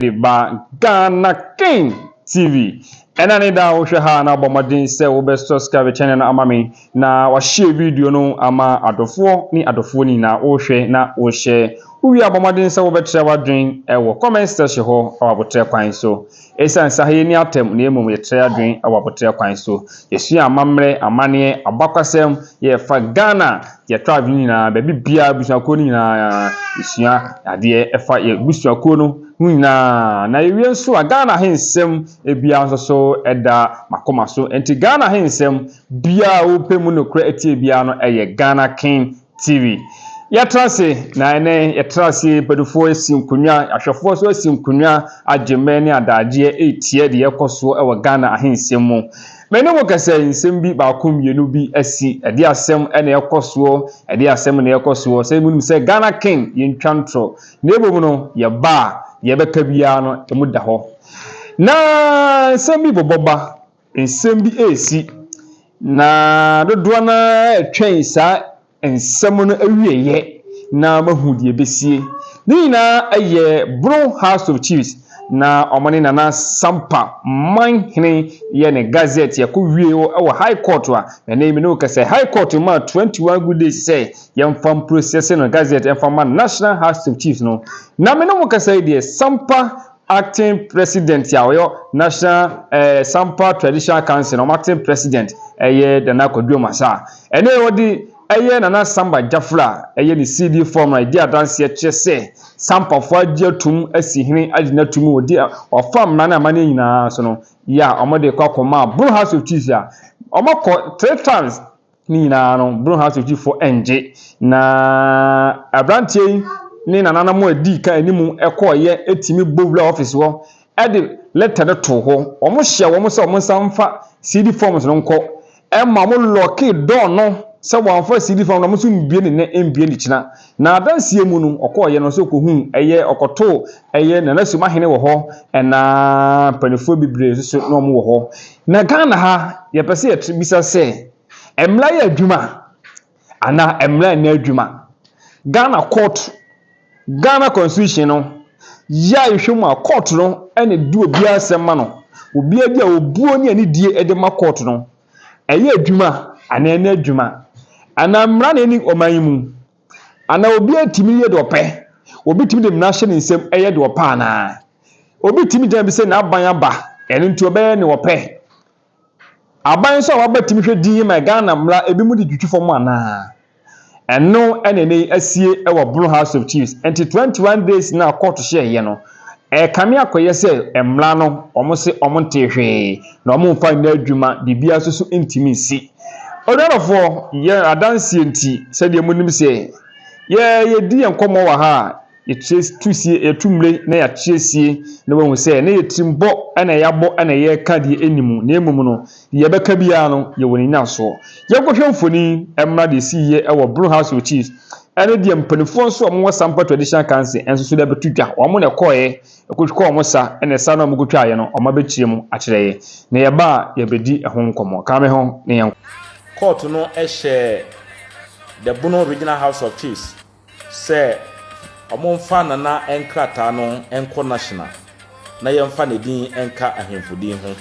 de ba Ghana King TV. Ɛna ne da a wohwɛ ha na wobɔ mmɔden sɛ wobɛ subscribe channel no ama me na wahyɛ video no ama adɔfoɔ ne adɔfoɔ ni na wohwɛ na wohyɛ wowie a bɔ mmɔden sɛ wobɛkyerɛ w'adwen wɔ comment section hɔ wɔ abotrɛ kwan so. Ɛsiane sɛ ha yɛni atɛm na mmom yɛkyerɛ adwen wɔ abotrɛ kwan so. Yɛsua amammerɛ, amanneɛ, abakwasɛm, yɛfa Ghana Yɛtɔ adwene nyinaa, baabi biara, abusuakuo no nyinaa, yɛsua adeɛ ɛfa yɛ abusuakuo no ho nyinaa. Na yɛwie nso a, Ghana he nsɛm biara nso so da m'akoma so. Nti Ghana he nsɛm biara a wopɛ mu nokorɛ atie biara no, ɛyɛ Ghana King TV. Yɛatra ase, na ɛnɛ yɛtra ase, mpanyinfoɔ asi nkonnwa, ahwɛfoɔ nso asi nkonnwa, agye mmɛ ne adaagyeɛ retie deɛ ɛkɔ soɔ wɔ Ghana he nsɛm mu. Me ne wo kasa yi nsɛm bi baako mmienu bi asi ɛde asɛm na ɛkɔ soɔ ɛde asɛm na ɛkɔ soɔ sɛ mo nim sɛ Ghana ken yɛ ntwa ntorɔ na mmom no yɛ ba a yɛ bɛka biara no ɛmu da hɔ na nsɛm bi bɔbɔ ba nsɛm bi ɛresi na dodoɔ no ara ɛtwɛn saa nsɛm no awieeɛ na mahu deɛ ɛbɛsie. Ne nyinaa yɛ Bro House of Chiefs na wɔn ne Nana Sampa man hene yɛ ne gazette yɛkɔ wie hɔ wɔ High Court a ɛnɛ yi me ne wo kasa High Court maa 21 good days sɛ yɛmfa mprosɛse no gazette ɛmfa ma National House of Chiefs no na me ne wo kasa yi deɛ Sampa Acting president a ɔyɛ National eh, Sampa Traditional Council no, ɔmo acting president ɛyɛ Nana Kwadu Amasah. Ɛno yɛ ɔde ɛyɛ Nana Samba Gyafra a ɛyɛ ne CD form a ɛdi adanseɛ kyerɛ sɛ Sampafoɔ agye atum asi hene agye no atum wɔ di a ɔfa mmara ne amanneɛ nyinaa so no yɛ a ɔmo de kɔ akɔmaa Bono House of Chiefs a ɔmo akɔ three times Ne nyinaa no, Bruhn-House sogyifo ngye, na aberanteɛ yi ne nananom a ɛdii kan anim kɔeɛ tumi bɔ wuraa ɔfis hɔ de lɛta no too hɔ. Wɔhyɛɛ wɔn sɛ wɔnsan mfa CD forms no nkɔ, ɛma wɔlɔɔkee dɔɔ no sɛ wɔamfa CD form no a wɔnso mbue no nnɛ, mbue no kyena. N'adanseɛ mu no, ɔkɔeɛ no sɛ ɔkɔhuu ɛyɛ ɔkɔtoo ɛyɛ Nana Sumahene wɔ hɔ ɛna mpaninfoɔ bebree nso so na wɔn wɔ hɔ. Na Ghana ha yɛpɛ sɛ yɛte bisa sɛ ɛmmra yɛ adwuma anaa ɛmmra nyɛ adwuma. Ghana court, Ghana constitution no yɛ a yɛhwɛ mu a court no ɛna ɛdi obiara asɛm ma no. Obiara bi a obuo ne anidie ɛde ma court no. Ɛyɛ adwuma anaa ɛnyɛ adwuma, anaa mmara na ɛni ɔman yi mu, anaa obiara tumi yɛ deɛ ɔpɛ, obi tumi de mmara hyɛ ne nsam yɛ deɛ ɔpɛ anaa? Obi tumi gyina bi sɛ n'aban aba, ɛno nti ɔbɛyɛ deɛ ɔpɛ? Aban nso a waba tumi hwɛ dinn ma Ghana mmara ebinom de twitwi fam anaa? Ɛno na ɛnnɛ yi asie wɔ Brno House of Chiefs nti 21 days no a kɔɔto hyɛɛ yɛ no ɛrekame akɔyɛ sɛ mmra no wɔn se wɔn ntee hwee na wɔn mfa nyɛ adwuma biribiara nso so ntumi nsi. Onuadɔfoɔ yɛ adanseɛ nti sɛdeɛ monim sɛ yɛ yɛdi yɛ nkɔmmɔ wɔ ha a Yɛkyerɛ tu sie, yɛtu mmire na yɛakyerɛ sie na wɔahu sɛ na yɛ tirim bɔ na yɛabɔ na yɛreka deɛ ɛnni mu na mmom no, deɛ yɛbɛka biara no, yɛwɔ ne nnyinasoɔ. Yɛnkɔhwɛ mfoni mmra deɛ ɛsiiɛ wɔ Brun House of Chiefs ɛne deɛ mpanimfoɔ nso a wɔwɔ Sampa Traditional Council nso so de abɛto dwa. Wɔn na ɛkɔeɛ kɔtwaa wɔn sa na sa no a wɔkɔtwaaeɛ no, wɔabɛkyerɛ mu akyerɛ yɛn na yɛba a yɛbɛdi ho nkɔmmɔ. Ka me ho na yɛnkɔ. Kɔɔto no hyɛɛ The Bono Regional House of Chiefs. sɛ wɔmfa Nana nkrataa no nkɔ National na yɛmfa ne din nka ahemfo din ho.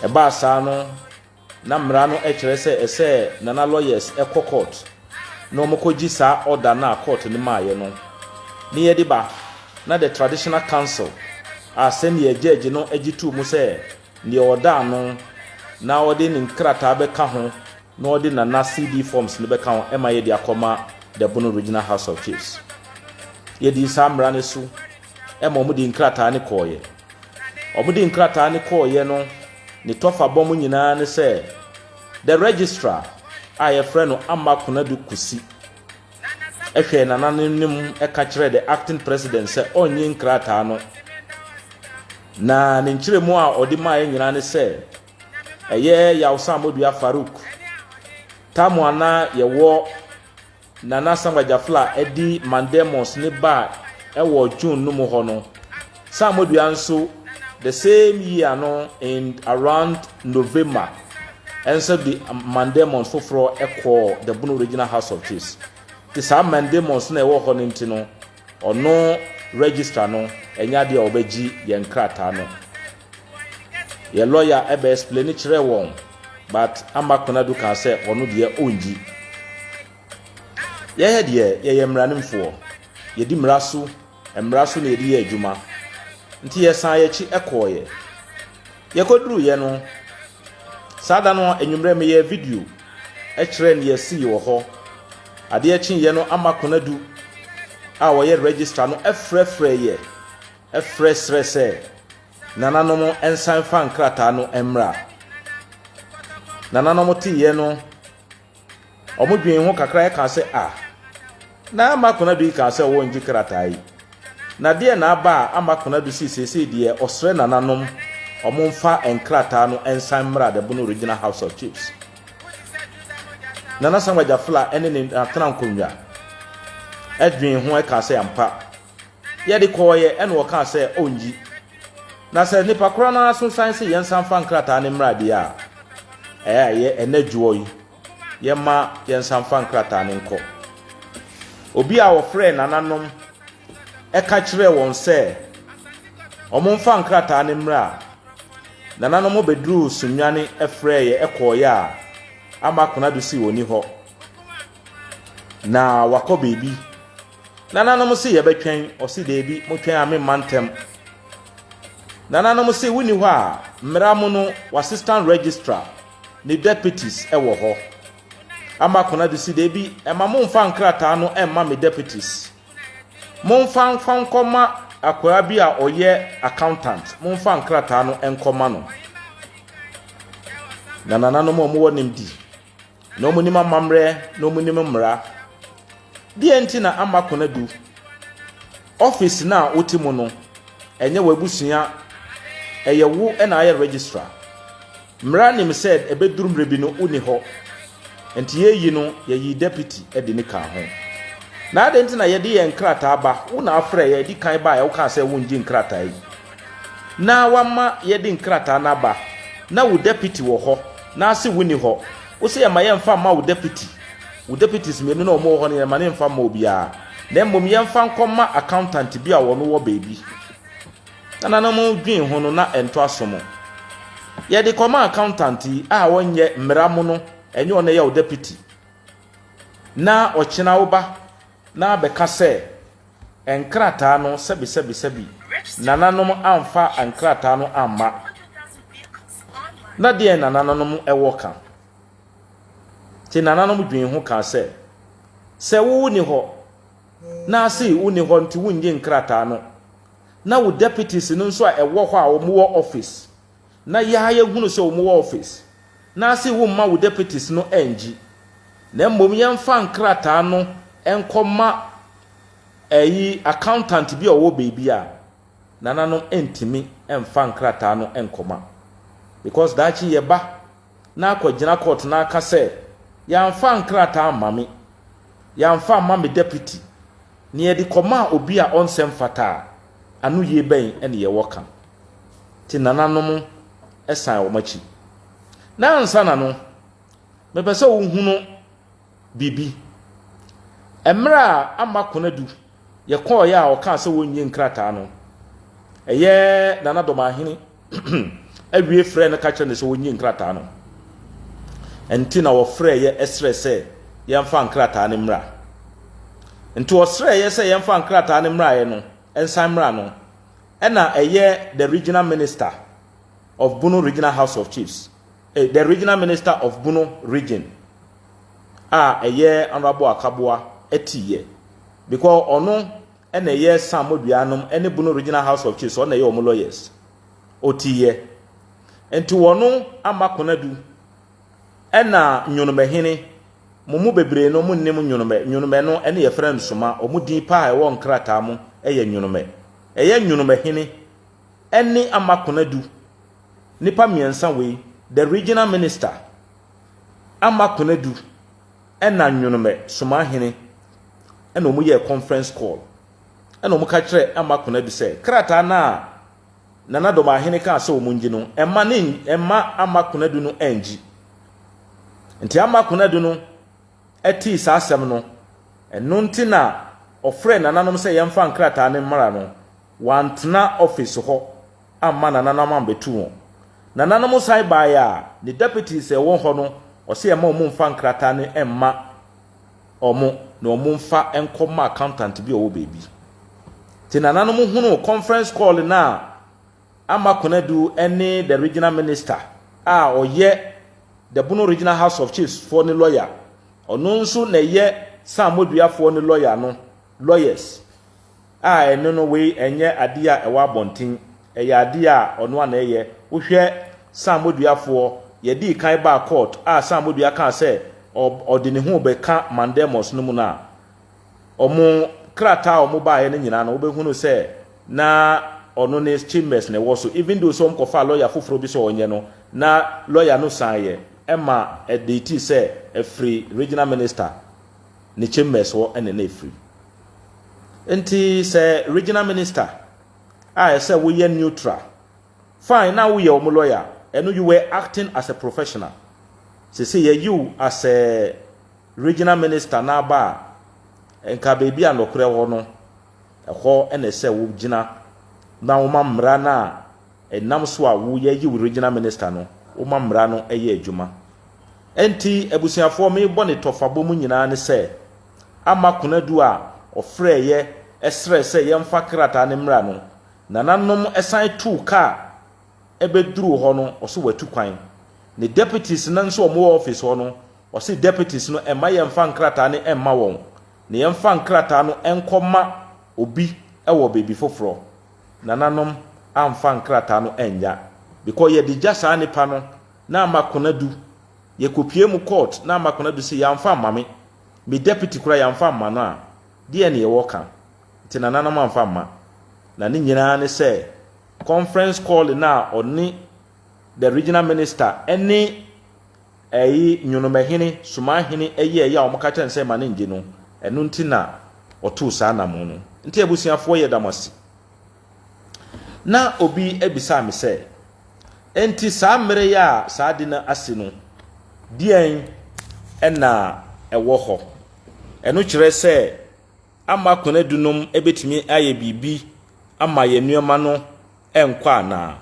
Ɛbaa saa no, na mmara no kyerɛ sɛ ɛsɛ Nana lawyers kɔ court na wɔkɔgye saa order no a court no maaeɛ no ne yɛde ba na the traditional council a sɛdeɛ judge no gye too mu sɛ deɛ ɔda ano na ɔde ne nkrataa bɛka ho na ɔde Nana CD forms no bɛka ho ma yɛde akɔma the Bono Regional House of Chiefs. Yɛdii saa mmara no so ma wɔde nkrataa no kɔɔeɛ. Wɔde nkrataa no kɔɔeɛ no ne tɔfa bɔm nyinaa ne sɛ the registrar a yɛfrɛ no Amma Konadu Kosi hwɛɛ Nana no anim ka kyerɛɛ the acting president sɛ ɔnnye nkrataa no na ne nkyerɛmu a ɔde maaeɛ nyinaa ne sɛ Ɛyɛ yaw sɛ Amoduya Farouk Tamuah na yɛwɔ Nana Asamoah Gyafla adi Mandemons ne ba ɛwɔ June no mu hɔ no, sɛ Amoduya nso the same year no in around November ɛnso de Mandemons foforɔ ɛkɔɔ the Bono Regional House of Chiefs. Te saa Mandemons na ɛwɔ hɔ no nti no, Ɔno registrar no ɛnyɛ adeɛ a ɔbɛgye yɛn nkrataa no. Yɛn lɔya ɛbɛ explain kyerɛɛ wɔn but ama Konadu kaa sɛ ɔno deɛ ɔngyi. Yɛyɛ deɛ yɛyɛ mmaranimfoɔ, yɛdi mmara so, mmara so na yɛde yɛ adwuma. Nti yɛsan yɛn akyi ɛkɔɔeɛ. Yɛkɔduruiɛ no, Saa da no anwummerɛ meyɛɛ video kyerɛɛ nea ɛsii wɔ hɔ. Adeɛ kyeeɛ no Ama Konadu a ɔyɛ Registrar no frɛfrɛeɛ frɛ srɛ sɛ nananom nsan mfa nkrataa no mmra. Nananom teeɛ no. Wɔdwen ho kakra ara kaa sɛ, Ah, na Ama Konadu yi kaa sɛ wɔrengye krataa yi. Na deɛn na aba a Ama Konadu sei seesei deɛ ɔsrɛ nananom wɔmfa nkrataa no nsan mmra the Bono Regional House of Chiefs. Nana Samuel Gyafla ne ne Atena Nkonnwa dwen ho kaa sɛ ampa Yɛde kɔeɛ ɛna ɔkaa sɛ ɔnnyi. Na sɛ nipa korɔ no ara so san se yɛnsan mfa nkrataa no mmra deɛ a, ɛyɛ ɛnɛ dwoɔ yi yɛma yɛnsan mfa nkrataa no nkɔ. Obi a ɔfrɛɛ nananom ɛka kyerɛɛ wɔn sɛ wɔmfa nkrataa no mmra. Nananom bɛduruu Sunyani ɛfrɛeɛ ɛkɔeɛ a ama Konadu se ɔnni hɔ na wakɔ baabi. Nananom se yɛbɛtwɛn, ɔse daabi, motwɛn a memma ntɛm. Nananom se wonni hɔ a, mmara mu no w'assistant registrar ne deputies wɔ hɔ. Ama Konadu se daabi, ɛma momfa nkrataa no mma me deputies. Momfa mfa nkɔma akwaa bi a ɔyɛ accountant, momfa nkrataa no nkɔma no. Na nananom a wɔwɔ nimdi. Na wɔnim amammerɛ na wɔnim mmara. Deɛ nti na ama Konadu office no a wote mu no, ɛnyɛ w'abusua, ɛyɛ wo na ayɛ registrar. Mmara nim sɛ ɛbɛduru mmerɛ bi no wonni hɔ. Nti yɛyi no, yɛyi deputy de ne kaa ho. Na adɛn nti na yɛde yɛn nkrataa ba, wo na afrɛ yɛn, ɛdi kan baeɛ wokaa sɛ wongye nkrataa yi. Na wama yɛde nkrataa no aba. Na wo dapiti wɔ hɔ, naase wonni hɔ. Wo se yɛmma yɛmfa mma wo dapiti. Wo dapitis mmienu no a wɔwɔ hɔ no, yɛmma no yɛmfa mma obiara. Na mmom yɛmfa nkɔma accountant bi a ɔno wɔ baabi. Nananom dwen ho no, na ɛnto aso mo. Yɛde kɔma accountant yi a ɔnyɛ mmara mu no, ɛnyɛ ɔno ɛyɛ wo dapiti. Na ɔkyena wo ba na abɛka sɛ, Nkrataa no sɛbisɛbisɛbi nananom amfa nkrataa no amma na deɛn na nananom wɔ ka? Nti nananom dwen ho kaa sɛ, sɛ wo ni hɔ na ase wo ni hɔ nti wonnye nkrataa no na wo deputies no nso a ɛwɔ hɔ a wɔn wɔ office na yɛ ara yɛhunu sɛ wɔn wɔ office na ase wo mma wo deputies no ɛngye na mmom yɛmfa nkrataa no nkɔ ma ɛyi accountant bi a ɔwɔ baabi a nananom ɛntumi ɛmfa nkrataa no nkɔ ma because daakye yɛ ba na akɔ gyina court na aka sɛ yɛamfa nkrataa amma me yɛamfa amma me deputy na yɛde kɔ ma obi a ɔnsɛ mfata a ano yie bɛn ɛne yɛwɔ ka. te nananom san wɔn akyi. Na ansa na no, mepɛ sɛ wohunu biribi. Mmerɛ a ama Konadu yɛkɔɔeɛ a ɔkaa sɛ wɔnyi nkrataa no, ɛyɛ Nana Dɔmahene awie frɛ no ka kyerɛ no sɛ wɔnyi nkrataa no. Nti na wɔfrɛeɛ ɛsrɛ sɛ yɛmfa nkrataa no mmra. Nti ɔsrɛeɛ sɛ yɛmfa nkrataa no mmraeɛ no, nsan mmra no. Ɛna ɛyɛ the regional minister of Bono Regional House of Chiefs, eh, the regional minister of Bono region a ɛyɛ Honorable Akaboa ɛti yɛ. Because ɔno ɛna ɛyɛ Sam Modua nom ɛne Bono Regional House of Chiefs, ɔna ɛyɛ ɔmo lawyers. Ɔti yɛ. Ɛnti wɔno ama Konadu. Ɛna Nyonomahene, mo mu bebree no mo nnim Nyonomɛ, Nyonomɛ no ɛne yɛfrɛ no Soma, wɔn din paa a ɛwɔ nkrataa mo ɛyɛ Nyonomɛ. Ɛyɛ Nyonomahene ɛne Ama Konadu, nnipa mmiɛnsa wei, the regional minister, Ama Konadu ɛna Nyonomɛ, Somahene, ɛna wɔn yɛɛ conference call, ɛna wɔn ka kyerɛɛ Ama Konadu sɛ krataa no a, Nana Domaahene kaa sɛ wɔn ngye no, mma ne mma Ama Konadu no anngye. Nti Ama Konadu no tee saa asɛm no, ɛno nti na ɔfrɛɛ nananom sɛ yɛmfa nkrataa no mmra no, wantena ɔfese hɔ amma nananom ammɛtu wɔn. Nananom san baeɛ a, ne deputies a ɛwɔ hɔ no, ɔse ɛmma wɔn mmfa nkrataa no mma wɔn na wɔmfa nkɔ ma accountant bi a ɔwɔ baabi. Te nananom hunuu conference call no a Ama Konadu ne the regional minister a ɔyɛ the Bono regional house of chiefs foɔ ne lawyer, ɔno nso na ɛyɛ San Moduafoɔ ne lawyer no lawyers. A ɛno no wei ɛnyɛ adeɛ a ɛwɔ abɔnten, ɛyɛ adeɛ a ɔno ara na ɛyɛ. Wohwɛ Sam Moduafoɔ, yɛdii kan baa court a Sam Modua kaa sɛ ɔde ne ho rebɛka Mandemos no mu no a, wɔn krataa a wɔbaeɛ no nyinaa no wobɛhunu sɛ na ɔno ne Chambers na ɛwɔ so, even though sɛ wɔkɔfaa lawyer foforɔ bi sɛ ɔnyɛ no, na lawyer no saneeɛ ma ɛdeetii sɛ ɛfiri Regional Minister ne Chambers hɔ na na ɛfiri. Nti sɛ regional minister a ɛsɛ woyɛ neutral, fine na woyɛ wɔn lawyer a, ɛno you were acting as a professional. Sese yɛyi wo as a regional minister na aba a, nka baabi a nɔkorɛ hɔ no, ɛhɔ na ɛsɛ wogyina na woma mmara no a ɛnam so a wo yɛyi wo regional minister no, woma mmara no yɛ adwuma. Nti abusuafoɔ mebɔ ne tɔfabɔ mu nyinaa ne sɛ, Amma Konadu a ɔfrɛɛ yɛ srɛɛ sɛ yɛmfa krataa no mmra no, nananom san too kaa bɛduruu hɔ no, ɔse watu kwan. Ne deputies no nso a wɔwɔ office hɔ no, ɔse deputies no mma yɛmfa nkrataa no mma wɔn, na yɛmfa nkrataa no nkɔ ma obi wɔ baabi foforɔ. Nananom amfa nkrataa no annya because yɛde gya saa nipa no na ama Konadu Yɛkɔpuee mu kɔɔt na ama kɔnadu se yɛamfa amma me, me deputy koraa yɛamfa amma no a, deɛn ne yɛwɔ ka? Nti nananom amfa amma. Na ne nyinaa ne sɛ conference call no a ɔne the regional minister ne ɛyi Nyonomahene, Sumahene yɛɛye a wɔka kyerɛ no sɛ mma no ngye no, ɛno nti na ɔtoo saa namon no. Nti abusuafoɔ yɛda mo ase. Na obi bisaa me sɛ, Enti saa mmere yi a saa ade no asi no, deɛn na ɛwɔ hɔ? Ɛno kyerɛ sɛ ama konadu nom bɛtumi ayɛ biribi ama yɛn nneɛma no nkɔ anaa?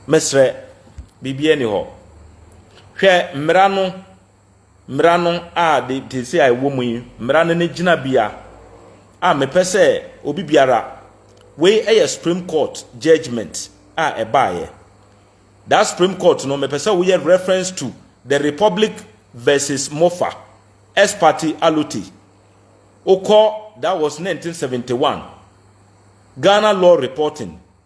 Mesrɛ, biribiara nni hɔ. Hwɛ mmara no. mmara no a de tese a ɛwɔ mu yi mmara no ne gyinabea a mepɛ sɛ obi biara wei yɛ supreme court judgment a ɛbaeɛ that supreme court no mepɛ sɛ woyɛ reference to the republic versus mofa ex parte allote okɔ that was 1971 ghana law reporting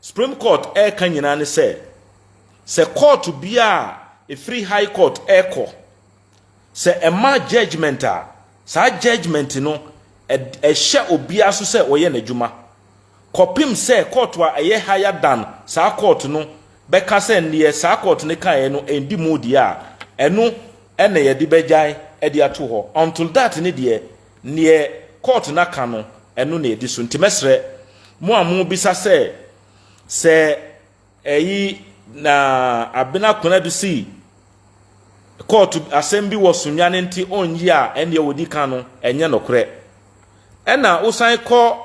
Supreme Court reka nyinaa ne sɛ, sɛ kɔɔto biara a ɛfiri High Court rekɔ, sɛ ɛma judgement a, saa judgement no ɛhyɛ obiara so sɛ ɔyɛ n'adwuma kɔpem sɛ kɔɔto a ɛyɛ higher than saa kɔɔto no bɛka sɛ neɛ saa kɔɔto no kaeɛ no ɛndi mu deɛ a, ɛno na yɛde bɛgyae de ato hɔ. Until that no deɛ, Neɛ court no aka no, ɛno na ɛdi so. Nti mɛsrɛ mo a mobisa sɛ, sɛ ɛyi na Abena Konadu si court asɛm bi wɔ Sunyani nti ɔnyi a, ɛneɛ wɔdi kan no, ɛnyɛ nokorɛ. Ɛna wosan kɔ.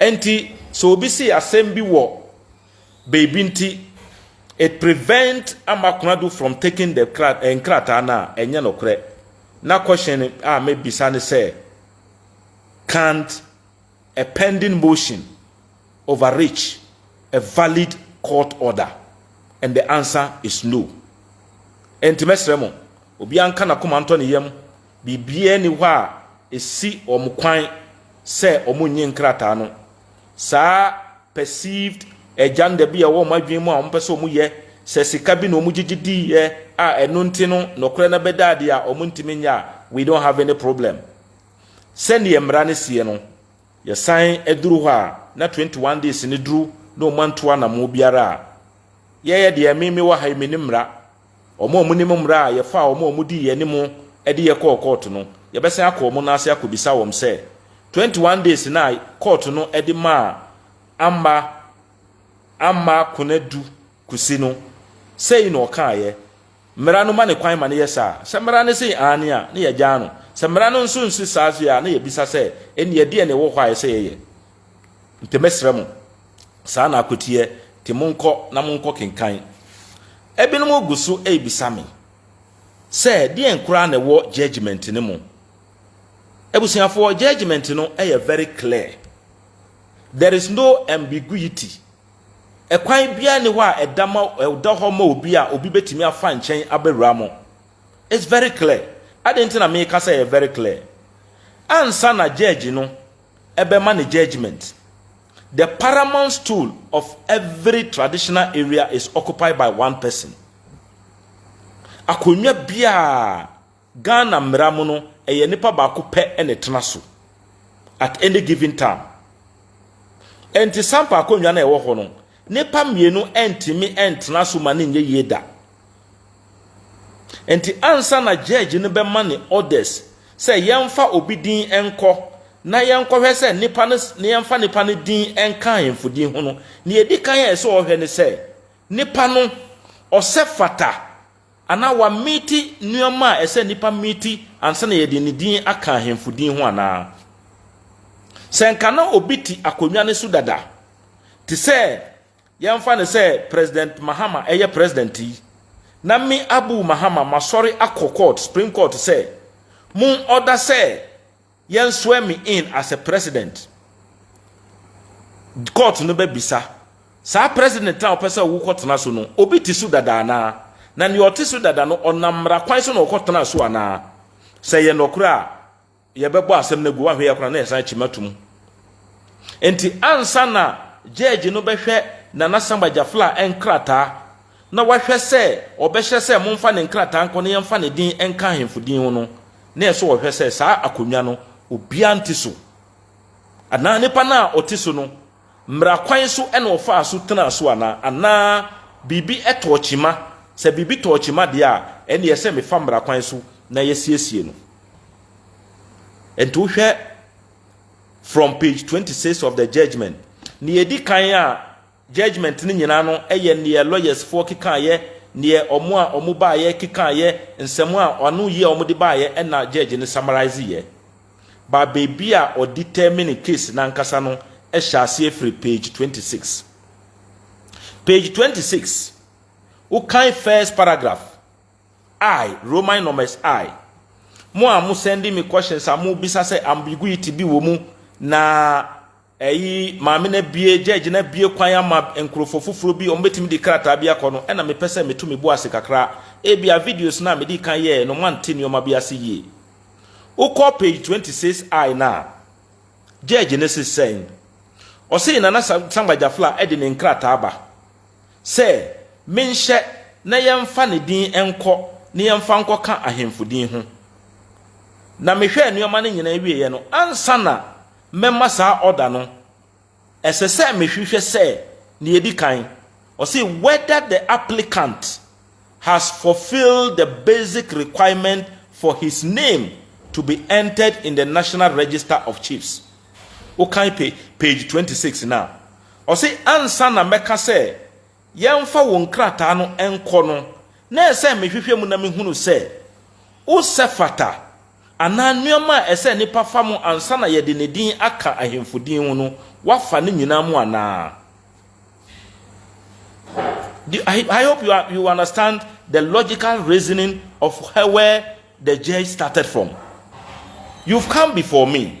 Ɛnti sɛ obi si asɛm bi wɔ baabi nti it prevent Ama Konadu from taking the eh, nkrataa no a, ɛnyɛ nokorɛ. Na question a mɛbisa ne sɛ, can't a pending motion overreach a valid court order? And the answer is no. Ɛnti mɛsrɛ mo, obiara nka n'akoma ntɔ ne yam Biribiara nni hɔ a esi wɔn kwan sɛ wɔnnye nkrataa no. Saa perceived agenda bi a ɛwɔ wɔn adwene mu a wɔpɛ sɛ wɔyɛ, sɛ sika bi na wɔgyegye diiɛ a ɛno nti no nokorɛ no bɛda adi a wɔntumi nyɛ a, we don't have any problem. Sɛdeɛ mmara no sie no, yɛsan duru hɔ a na 21 days no duru na wɔantu anammɔn biara a, yɛyɛ deɛ me mewɔ ha yi menim mmara Wɔn a wɔnim mmara a yɛfaa wɔn a wɔdii yɛn anim de yɛn kɔɔ kɔɔto no, yɛbɛsan akɔ wɔn nan ase akɔbisa wɔn sɛ, 21 days no a kɔɔto no de maa Amma Amma Konadu Kusi no, sei na ɔkaeɛ? Mmara no ma no kwan ma no yɛ saa? Sɛ mmara no se aane a, na yɛagyaa no. Sɛ mmara no nso nse saa a, na yɛbisa sɛ, ɛnneɛ deɛn na ɛwɔ hɔ a ɛsɛ sɛ yɛyɛ? Nti mesrɛ mo, saa na akoteɛ te monkɔ na monkɔ kenkan. Ɛbinom gu so ɛrebisa me sɛ deɛn koraa na ɛwɔ judgement no mu. Abusuafoɔ judgement no ɛyɛ very clear. There is no ambiguity. Ɛkwan biara ni hɔ a ɛda, ma, ɛda hɔ ma obi a obi bɛtumi afa nkyɛn abɛwura mo. It's very clear. Adɛn nti na meka sɛ ɛyɛ very clear? Ansa na judge no ɛbɛma ne judgement. The paramount stool of every traditional area is occupied by one person. Akonnwa biara Ghana mmara mu no, ɛyɛ nipa baako pɛ na ɛtena so at any given time. Ɛnti sampa akonnwa no a ɛwɔ hɔ no, nipa mmienu ntumi ntena so ma no nyɛ yie da. Enti ansa na judge no bɛma ne orders sɛ yɛmfa obi din nkɔ na yɛnkɔhwɛ sɛ nipa no na yɛmfa nipa no din nka ahemfo din ho no, nea edi kan a ɛsɛ ɔhwɛ ne sɛ nipa no ɔsɛ fata anaa wamiti nneɛma a ɛsɛ nipa miti ansa na yɛde ne din aka ahemfo din ho anaa. Sɛ nka na obi te akonnwa no so dada te sɛ Yɛmfa no sɛ President Mahama yɛ President yi, na me Abu Mahama masɔre akɔ court, Supreme Court sɛ, mo order sɛ yɛn swear me in as a President. Court no bɛbisa, saa President a wopɛ sɛ wokɔ tena so no, obi te so dada anaa? Na nea ɔte so dada no, ɔnam mmara kwan so na ɔkɔ tenaa so anaa? Sɛ ɛyɛ nɔkorɛ a, Yɛbɛbɔ asɛm no agu, woanhwɛ yɛ koraa na yɛsan kyima to mu. Enti ansa na gyɛɛgye no bɛhwɛ Nana Samba Jafla nkrataa na wahwɛ sɛ ɔbɛhyɛ sɛ momfa ne nkrataa nkɔ na yɛmfa ne din nka ahemfo din ho no, na ɛsɛ sɛ ɔhwɛ sɛ saa akonnwa no obiara nte so, anaa nipa no a ɔte so no Mmara kwan so na ɔfaa so tenaa so anaa? Anaa biribi tɔɔ kyima? Sɛ biribi tɔɔ kyima deɛ a, ɛnneɛ ɛsɛ sɛ mefa mmara kwan so na yɛasiesie no. Enti wohwɛ from page twenty six of the judgement, nea ɛdi kan a judgement no nyinaa no yɛ neɛ lawyers foɔ kekaeɛ, neɛ wɔn a wɔbaeɛ kekaeɛ, nsɛm a ano yie a wɔde baeɛ na judge no summarise yɛ. Ba baabi a ɔdetermine case no ankasa no hyɛ aseɛ firi page twenty six. Page twenty six, wokan first paragraph, I, Roman numbers I, mo a mo sending me questions a mobisa sɛ ambiguity bi wɔ mu na Eyi maame no abue, gyɛɛgye no abue kwan ama nkurofo foforo bi, wɔbetumi de krataa bi akɔ no, ɛna mepɛ sɛ meto me bo ase kakra. Ebia videos no a midii kan yɛe no moante nneɛma bi ase yie. Wokɔ page 26I no a, gyɛɛgye no se sɛn? Ɔsee Nana Samba Jafla de ne nkrataa ba sɛ menhyɛ na yɛmfa ne din nkɔ na yɛmfa nkɔka ahemfo din ho. Na mehwɛɛ nneɛma no nyinaa wieɛ no, ansa na Mɛma saa order no. Ɛsɛ sɛ mehwehwɛ sɛ, nea edi kan, ɔse whether the applicant has fulfilled the basic requirement for his name to be entered in the National Register of Chiefs. Wokan page twenty six no a, ɔse ansa na mɛka sɛ yɛmfa wo nkrataa no nkɔ no, na ɛsɛ sɛ mehwehwɛ mu na mehunu sɛ wo sɛ fata, anaa nneɛma a ɛsɛ sɛ nnipa fa mu ansa na yɛde ne din aka ahemfo din ho no, woafa ne nyinaa mu anaa. I hope you, are, you understand the logical reasoning of where the judge started from. You've come before me.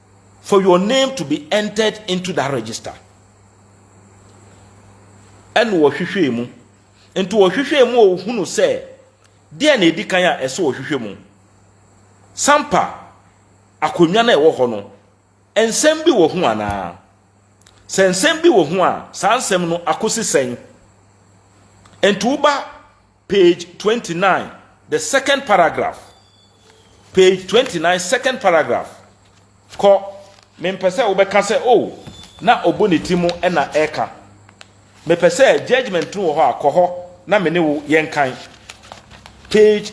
for your name to be entered into that register. Ɛna wɔhwehwɛɛ mu. Nti wɔhwehwɛɛ mu a wɔhunu sɛ deɛ na ɛdi kan a ɛsɛ wɔhwehwɛ mu. Sampa akonnwa no a ɛwɔ hɔ no, nsɛm bi wɔ ho anaa? Sɛ nsɛm bi wɔ ho a, saa nsɛm no akɔsi sɛn? Nti woba Page twenty nine, the second paragraph. Page twenty nine, second paragraph. Kɔ, mempɛ sɛ wobɛka sɛ, oh, na ɔbɔ ne ti mu na ɛka. Mepɛ sɛ judgment no wɔ hɔ a, kɔ hɔ na me ne wo yɛnkan. Page,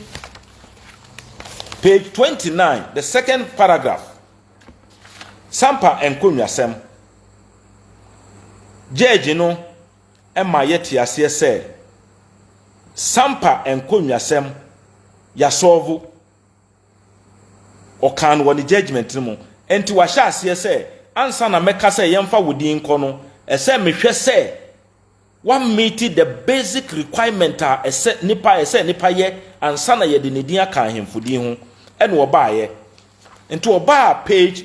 page twenty nine, the second paragraph. Sampa nkonnwasɛm. Judge no ma yɛte aseɛ sɛ Sampa nkonnwasɛm yɛasɔlvo. Ɔkaa no wɔ ne judgement no mu. Ɛnti wahyɛ aseɛ sɛ ansa na mɛka sɛ yɛmfa wo din nkɔ no, ɛsɛ mehwɛ sɛ wa meet the basic requirement a ɛsɛ nipa ɛsɛ nipa yɛ ansa na yɛde ne din aka ahemfo din ho. Ɛna ɔbaeɛ. Nti ɔbaa page.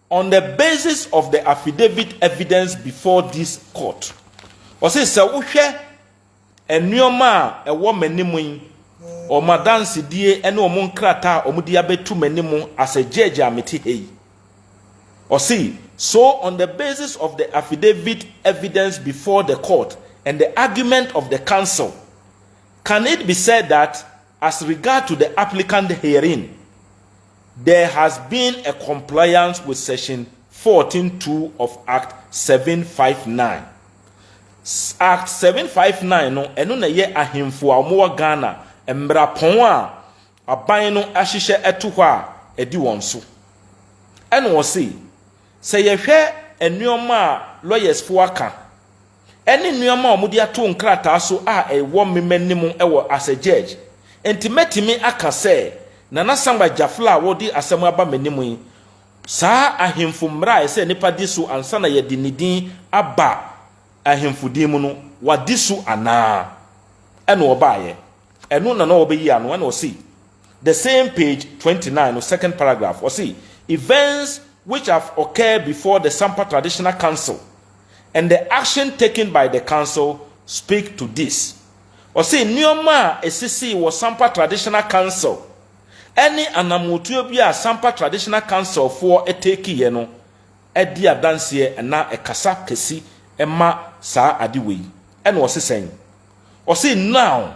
On the basis of the affidavit evidence before this court, ɔse sɛ wohwɛ nnoɔma a ɛwɔ m'anim yi, wɔn adansedie ne wɔn nkrataa a wɔde abɛtu m'anim as a judge a mete ha yi, ɔse so on the basis of the affidavit evidence before the court and the argument of the counsel, can it be said that As regard to the applicant herein, there has been a compliance with section fourteen two of Act seven five nine. Act seven five nine no, ɛno na ɛyɛ ahemfo a wɔwɔ Ghana mmerapɔn a aban no ahyehyɛ ato hɔ a ɛde wɔn so. Ɛna ɔse, sɛ yɛhwɛ nnoɔma a lawyers foɔ aka, ne nneɛma a wɔde ato nkrataa so a ɛwɔ me m'anim wɔ as a judge. Enti mɛtumi aka sɛ Nana Samuel Gyafla a wɔde asɛm aba m'anim yi, saa ahemfo mmara a ɛsɛ nnipa di so ansa na yɛde ne din aba ahemfo din mu no, wadi so anaa? Ɛna ɔbaeɛ. Ɛno na na ɔrebɛyi ano, ɛna ɔse, the same page twenty nine no second paragraph, ɔse, Events which have occurred before the Sampa Traditional Council And the action taken by the council speak to this. Ɔse nneɛma a ɛsisii wɔ Sampa Traditional Council ɛne anamotuo bi a Sampa Traditional Council foɔ takeeɛ no ɛdi adanseɛ ɛna ɛkasa kɛsi ɛma saa ade wei. Ɛna ɔse sɛn? Ɔse now.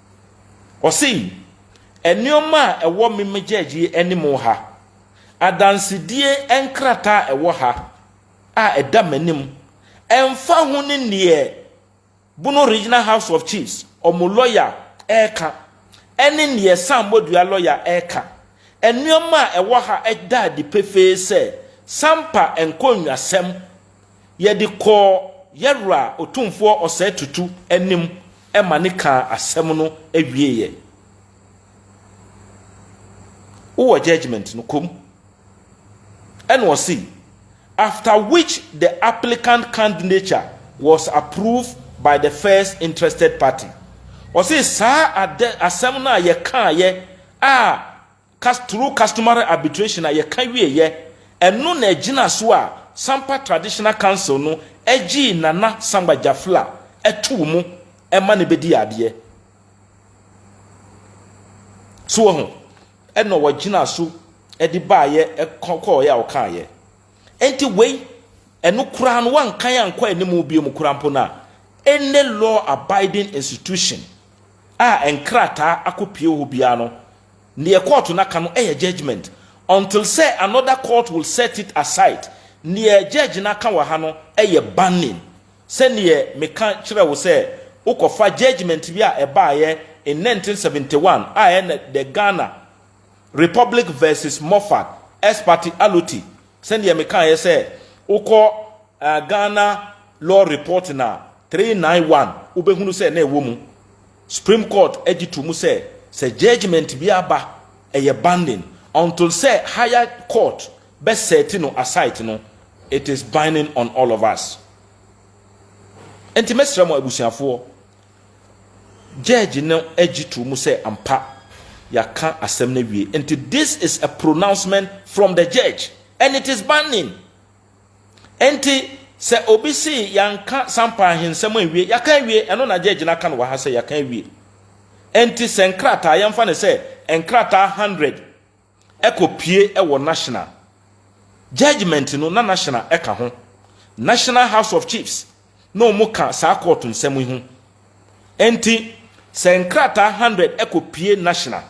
Ɔsei, Nnoɔma a ɛwɔ me megyɛɛgye yi anim ha, adansedie nkrataa a ɛwɔ ha a ɛda m'anim, ɛmfa ho ne deɛ Bono Regional House of Chiefs wɔn lɔya reka ɛne deɛ Sam Bodua lɔya reka. Nnoɔma a ɛwɔ ha da adi pefee sɛ Sampa nkonnwasɛm Yɛde kɔɔ yɛ Wura Otumfoɔ Osei Tutu anim ma ne kaa asɛm no wieeɛ. Wowɔ judgement no, kɔm. Ɛna ɔse, after which the applicant candnature was approved by the first interested party. Ɔse saa asɛm no a yɛkaaeɛ a Cas through customary arbitration a yɛka wieeɛ, ɛno na ɛgyina so a Sampa Traditional Council no gyee Nana Sangba Jafla too mu ma no bɛdii adeɛ. So wahu? Ɛna wɔgyinaa so de baeɛ kɔɔeɛ a wɔkaeɛ. Enti wei, ɛno koraa no wɔankan ankɔ anim biom koraa mpo no a, any law abiding institution a nkrataa akɔpue wɔ hɔ biara no, Neɛ court no aka no yɛ judgement until sɛ another court will set it aside. Neɛ judge no aka wɔ ha no yɛ banning. Sɛneɛ meka kyerɛɛ wo sɛ wokɔfa judgement bi a ɛbaeɛ in nineteen seventy one a ɛyɛ ne The Ghana Republic versus Moffat ex parte Aloti, sɛdeɛ mekaeɛ sɛ wokɔ Ghana Law Report No. three nine one wobɛhunu sɛ na ɛwɔ mu. Supreme Court gye to mu sɛ, sɛ judgement bi aba ɛyɛ binding until sɛ higher court bɛ set no aside no, it is binding on all of us. Nti mɛsrɛ mo abusuafoɔ, judge no gye to mu sɛ ampa yɛaka asɛm no awie. Nti this is a pronouncement from the judge and it is binding. Enti, sɛ obi se yɛanka Sampa ahensɛm anwie, yɛaka awie, ɛno na Judge no aka no wɔ ha sɛ yɛaka awie. Enti sɛ nkrataa, yɛmfa no sɛ nkrataa hundred kɔpue wɔ National, judgement no na National ka ho, National House of Chiefs na wɔka saa court nsɛm yi ho. Enti, sɛ nkrataa hundred kɔpue National,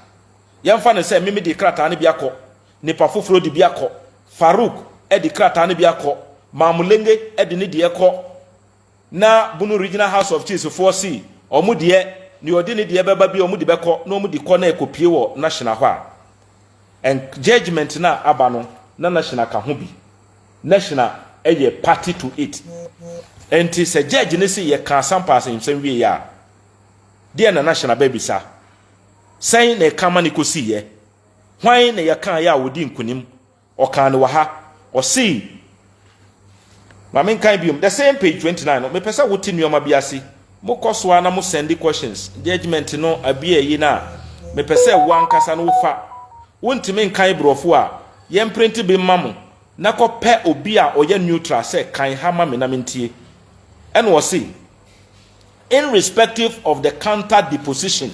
yɛmfa no sɛ me mede krataa no bi akɔ Nnipa foforɔ de bi akɔ. Farouk de krataa no bi akɔ. Mamulenge de ne deɛ kɔ. Na Bunu Regional House of Chiefs foɔ se wɔn deɛ, deɛ ɔde ne deɛ bɛba biara wɔn de bɛkɔ na wɔn de kɔ na ɛkɔpue wɔ Nashina hɔ a, ɛn judgement no a aba no, na Nashina ka ho bi. Nashina yɛ party to it. Enti sɛ judge no se yɛka asampaasɛmsɛm wieeɛ a, deɛn na Nashina bɛbisa? Sɛn na ɛka ma no kɔsiiɛ? Hwan na yɛkaeɛ a ɔdii nkonim? Ɔkaa no wɔ ha. Ɔsee, ma menkan biom, the same page twenty nine no, mepɛ sɛ wote nneɛma bi ase. Mokɔ so ara na mo sɛnde questions, judgement no abi ayi no a, mepɛ sɛ wo ankasa no wofa. Wontumi nkan Borɔfo a, yɛmprente bi mma mo, na kɔpɛ obi a ɔyɛ neutral sɛ kan ha ma me na mentie. Ɛnna ɔsee, In respective of the counter deposition,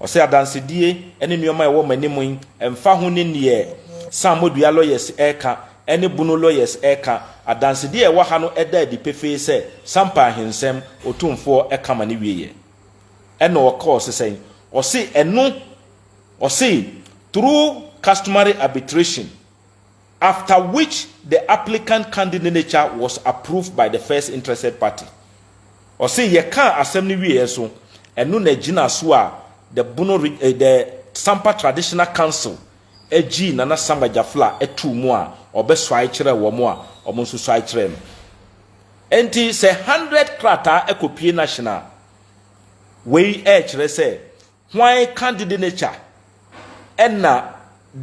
Ɔse adansedie ne nnoɔma a ɛwɔ mo anim yi ɛmfa ho ne neɛ Sammɔdua lawyers reka ne Bunu lawyers reka, adansedie a ɛwɔ ha no da adi pefee sɛ Sampa Ahensɛm Otumfoɔ ka ma no wieɛ. Ɛna ɔka ɔse sɛn? Ɔse ɛno, ɔse through customary arbitration, after which the applicant candidnature was approved by the first interested party. Ɔse yɛkaa asɛm no wieɛ nso, ɛno na ɛgyinaa so a the Bono reg eh, the Sampa Traditional Council gyii Nana Sam Agyafla too mu a ɔbɛsuae kyerɛɛ wɔn a wɔn nso suae kyerɛɛ no. Enti sɛ hundred krataa kɔpue no ahyena a, wei ɛrekyerɛ sɛ Hwan ka dede ne kya? Ɛna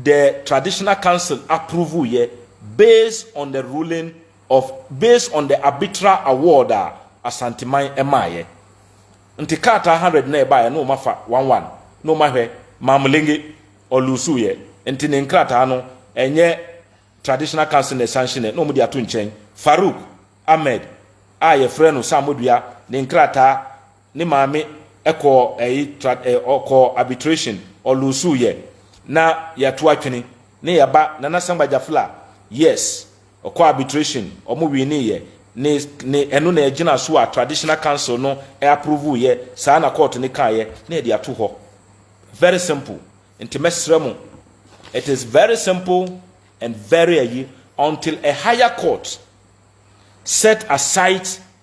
the traditional council approve yɛ based on the ruling of based on the arbitral award a Asanteman maayɛ. Nti krataa hundred na ɛbaeɛ na wɔn afa one one na wɔn ahwɛ Mamulenge ɔluusu yɛ nti ne nkrataa no ɛnyɛ traditional council na ɛsanhye nɛ na wɔn de ato nkyɛn. Farouk Ahmed a yɛfrɛ no Saamodua ne nkrataa Ne maame kɔɔ ɛyi tra ɛ ɔkɔɔ arbitration ɔlosuu yɛ na yɛato atwene ne yɛ ba Nana Sangba Jafla yes ɔkɔɔ arbitration ɔmo wiinii yɛ ne ne ɛno na ɛgyina so a traditional council no aprovuu yɛ saa na kɔɔto no kaa yɛ na yɛde ato hɔ very simple nti mɛsrɛ mo it is very simple and very ɛyi until a higher court set aside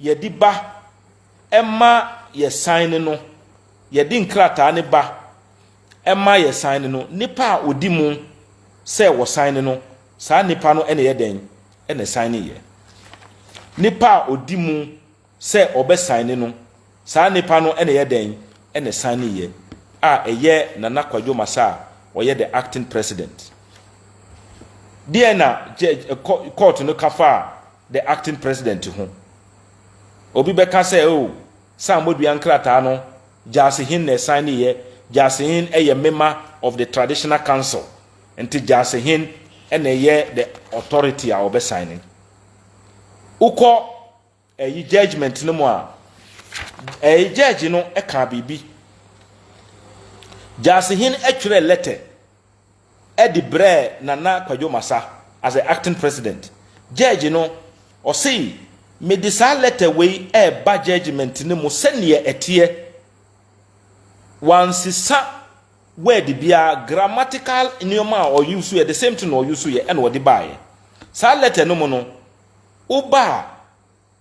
Yɛde ba, ɛma yɛsan ne no. Yɛde nkrataa no ba, ɛma yɛsan ne no. Nnipa a wɔdi mu sɛ wɔsan ne no, saa nnipa no na ɛyɛ dɛn? Na ɛsan ne yɛ. Nnipa a wɔdi mu sɛ wɔbɛsan ne no, saa nnipa no na ɛyɛ dɛn? Na ɛsan ne yɛ. A ɛyɛ Nana Kwadwo Masa a ɔyɛ the acting president. Deɛ na judge, kɔɔto no ka faa The Acting President ho. Obi bɛka sɛ, Oh, sɛ Ammɔdua nkrataa no, Gyasi Hin na ɛsaeneeɛ, Gyasi Hin yɛ mema of the Traditional Council, nti Gyasi Hin na ɛyɛ the authority a ɔbɛsaene. Wokɔ ɛyi judgement no mu a, ɛyi judge no kaa biribi. Gyasi Hin twerɛɛ lɛtɛ de brɛɛ Nana Kwadwo Masa as the acting president. Judge no, ɔse, Mede saa lɛtɛ wei reba judgement no mu sɛdeɛ ɛteɛ. Wansesa word biara, grammatical nneɛma a ɔuseeɛ, the same thing na ɔuseeɛ na ɔde baeɛ. Saa lɛtɛ no mu no, woba a,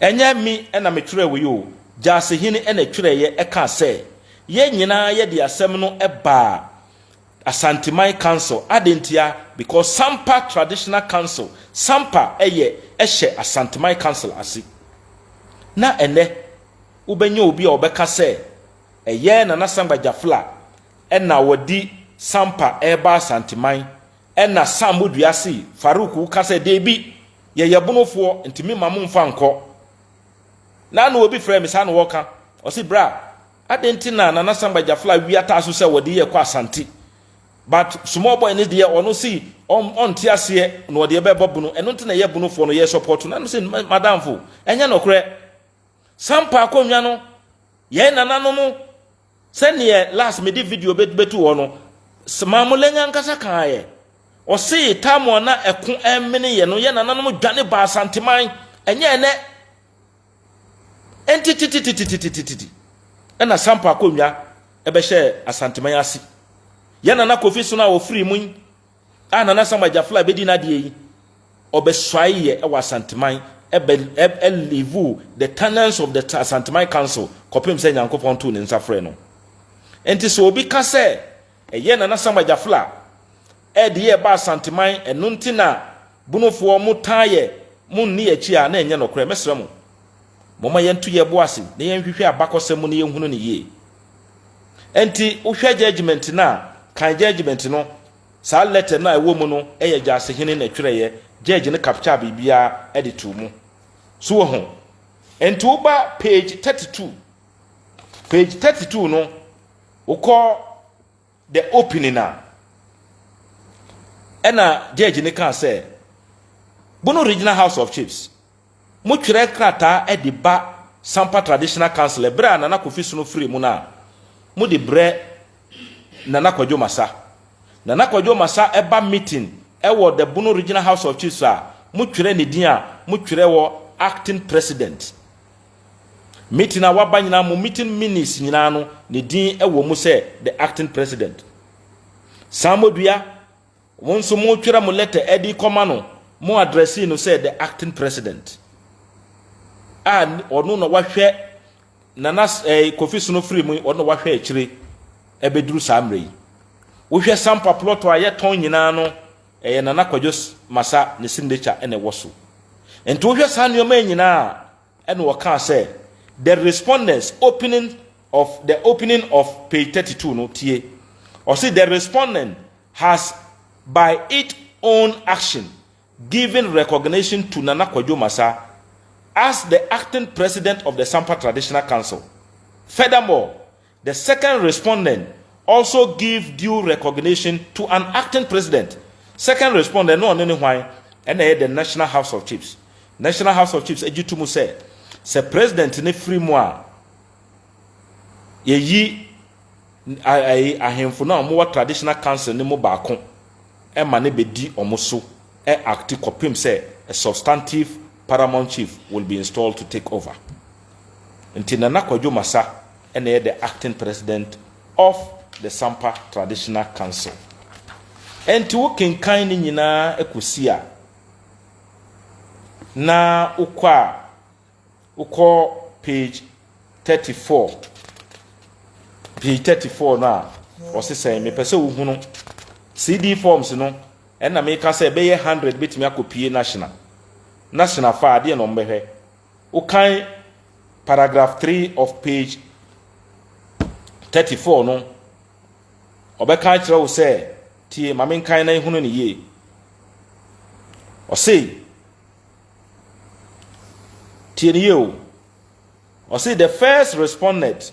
Ɛnyɛ me na metwerɛeɛ o, Gyasehene na ɛtwerɛeɛ kaa sɛ, yɛn nyinaa yɛde asɛm no baa Asanteman Council, adɛn ntia? Because Sampa Traditional Council, Sampa yɛ hyɛ Asanteman Council ase. Na ɛnnɛ wobɛnya obi a ɔbɛka sɛ ɛyɛ Nana Sangba Gyafla na ɔde Sampa reba Asanteman. Ɛna Sam bɔ dua se, Farouk wo ka sɛ, Deebi, yɛyɛ bonofoɔ, nti me mma mo nfa nkɔ. Na na obi frɛ me, saa na ɔka. Ɔse, Bra, aden nti na Nana Samba Jafla wia taa so sɛ ɔde yɛ kɔ Asante. But small boy no deɛ ɔno se ɔn ɔnte aseɛ na ɔde ɛbɛ bɔ bono, ɛno nti na yɛ bonofoɔ no yɛ support no. Ɛna me se, Madamfo, ɛnyɛ nɔkorɛ. Sampa akonnwa no, yɛn nananom. Sɛdeɛ last me de video bɛ bɛtu hɔ no, s Maame Lɛnyɛ ankasa kaa yɛ. Ɔse time a na ɛko ɛmene yɛ no, yɛ nananom dwane baa Asanteman, ɛnyɛ ɛnɛ. Ɛnti titititititititi ɛna Sampa akonnwa ɛbɛhyɛɛ Asanteman ase. Yɛ nana Kofi Sono a ɔfirii mu yi, a Nana Sam Agyafla bɛdi n'adeɛ yi, ɔbɛsuaeɛ wɔ Asanteman, ɛbɛ ɛ livuu the tenants of the Asanteman council kɔpem sɛ Nyankopɔn too ne nsa frɛɛ no. Nti sɛ obi ka sɛ ɛyɛ Nana Sam Agyafla ɛde yɛ ɛba Asanteman ɛno nti na Bonofoɔ mo taa yɛ mo nni yɛ akyi a na ɛnyɛ nɔkorɛ. Mɛsrɛ mo, momma yɛnto yɛbo ase na yɛnhwehwɛ abakɔsɛm mu na yɛnhunu no yie. Enti wohwɛ judgement no a, kan judgement no, saa letter no a ɛwɔ mu no yɛ Gyasehene na ɛtwerɛeɛ, judge no captured biribiara de too mu. So woahu? Enti woba page 32, page 32 no, wokɔ. The opening a ɛna judge no kaa sɛ, Bono Regional House of Chiefs, mo twerɛ nkrataa de ba Sampa Traditional Council ɛberɛ a Nana Kofi Sono firii mu no a, mo de brɛ Nana Kwadwo Masa. Nana Kwadwo Masa ba meeting wɔ the Bono Regional House of Chiefs a, mo twerɛ ne din a mo twerɛ wɔ Acting President. Meeting a waba nyinaa mo meeting minutes nyinaa no ne din wɔ mu sɛ the acting president. Samodua, wo nso mo twerɛ mo letter ɛde kɔma no mo addressee no sɛ the acting president. A ɔno na wahwɛ nana eh, kofi sono firi mu ɔno na wahwɛ akyire ɛbɛduru saa mmerɛ yi. Wohwɛ sampa plot a yɛtɔn nyinaa no Ɛyɛ Nana Kwadwo Masa ne signature na ɛwɔ so. Nti wohwɛ saa nnoɔma yi nyinaa a, ɛna ɔkaa sɛ, The respondents opening of the opening of page thirty two no, tie. Ɔse the respondent has by it own action given recognition to Nana Kwadwo Masa as the acting president of the Sampa Traditional Council. Furthermore, The second respondent also give due recognition to an acting president. Second respondent no ɔno ne hwan? Ɛna ɛyɛ the National House of Chiefs. National House of Chiefs agye to mu sɛ sɛ president no firi mu a yɛyi ahemfo no a wɔwɔ traditional council no mu baako ma no bɛdi wɔn so acti kɔpem sɛ a substantive paramount chief will be installed to take over. Nti Nana Kwadwo Masa na ɛyɛ the acting president of the Sampa Traditional Council. Ɛnti wo kenkan ne nyinaa ɛkɔsi a, na wokɔ a, wokɔ page 34, page 34 no a, ɔse sɛn, mepɛ sɛ wohunu CD forms no, ɛna meka sɛ ɛbɛyɛ 100 bɛtumi akɔpie national, national fa adeɛ na ɔmbɛhwɛ. Wokan paragraph three of page thirty four no, ɔbɛka akyerɛ wo sɛ, tie, ma menkan na ehunu ne yie. Ɔsei, tie ne yie o. Ɔsei, the first respondent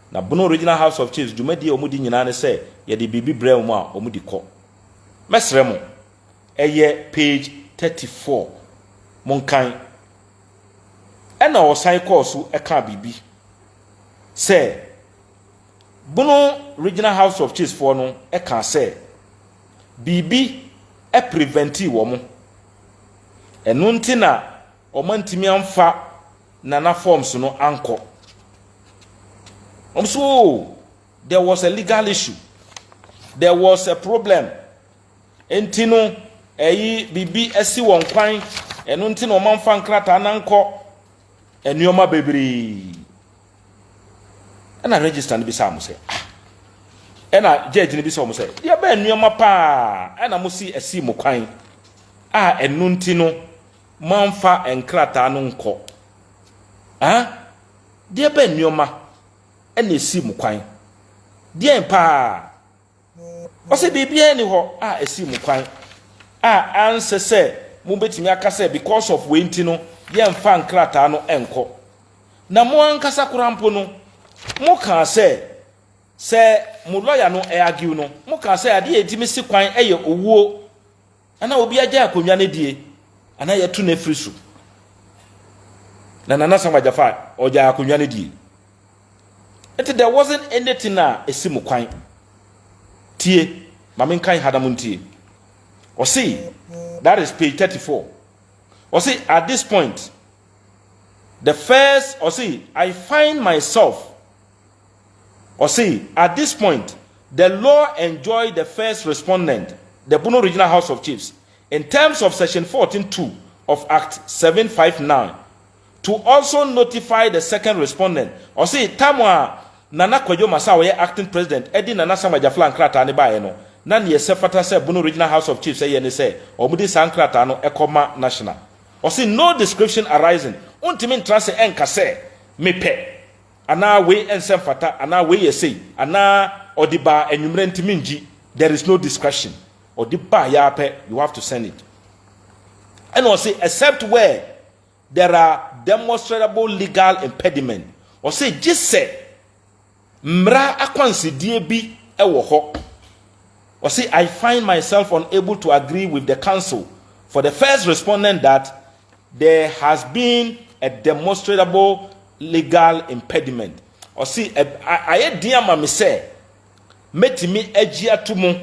Na Bono Regional House of Chiefs dwumadie a wɔdi nyinaa ne sɛ yɛde biribi brɛ wɔn a wɔde kɔ. Mɛsrɛ mo, ɛyɛ page thirty four, monkan. Ɛna ɔsan kɔɔ so kaa biribi sɛ Bono Regional House of Chiefs foɔ no kaa sɛ biribi preventi wɔn. Ɛno nti na. Wɔantumi amfa Nana forms no ankɔ. Wɔn so oh, there was a legal issue, there was a problem. Nti no, ɛyi biribi asi wɔn kwan, ɛno nti na wɔamfa nkrataa no ankɔ. Nneɛma bebree. Ɛna register no bisaa mo sɛ, ah, ɛna judge no bisaa wɔn sɛ, deɛ bɛn nneɛma paa ɛna mo si asi mo kwan a ɛno nti no moamfa nkrataa no nkɔ. Ɛɛ, deɛ bɛn nneɛma na ɛsii mo kwan? Deɛn paa? Ɔse, Biribiara nni hɔ a ɛsii mo kwan a ansɛ sɛ mobɛtumi aka sɛ because of wei nti no yɛmfa nkrataa no nkɔ. Na mo ankasa koraa mpo no, mokaa sɛ, sɛ mo lɔya no argue no, mokaa sɛ adeɛ a ɛtumi si kwan yɛ owuo. Ana obi agyae akonnwa no die anaa yɛatu no afiri so? Na Nana Sam Agyafa ɔgyae akonnwa no die. Nti there wasn't anything a ɛsi mo kwan. Tie, ma menkan ha na montie. Ɔse, that is page 34. Ɔse, at this point, the first, ɔse, I find myself Ɔse at this point the law enjoy the first respondent, the Bono Regional House of Chiefs, in terms of section fourteen two of Act seven five nine to also notify the second respondent. Ɔse time a Nana Kwadwo Masa a ɔyɛ acting president de Nana Sam Agyafla nkrataa no baeɛ no, na neɛ ɛsɛ fata sɛ Bono Regional House of Chiefs yɛ ne sɛ wɔde saa nkrataa no kɔ ma National. Ɔse no description arising, wontumi ntra ase nka sɛ mepɛ. anaa wei ɛnsɛ mfata anaa wei yɛ sei anaa ɔde baa anwummerɛ nti mengyi there is no discretion ɔde baa yɛ ara pɛ you have to send it ɛna ɔse except where there are demonstrable legal impediment ɔse gye sɛ mmara akwansideɛ bi ɛwɔ hɔ ɔse I find myself unable to agree with the council for the first respondent that There has been a demonstrable legal impediment. Ɔse, ayɛ den ama me sɛ mɛtumi agye ato mu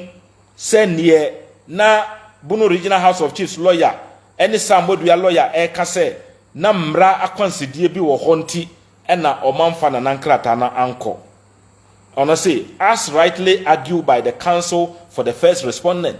sɛ neɛ na Bono Regional House of Chiefs lɔya ne Sam Wadua lɔya reka sɛ na mmara akwansideɛ bi wɔ hɔ nti na ɔmamfa Nana nkrataa no ankɔ. Ɔno se, as rightly argued by the counsel for the first respondent,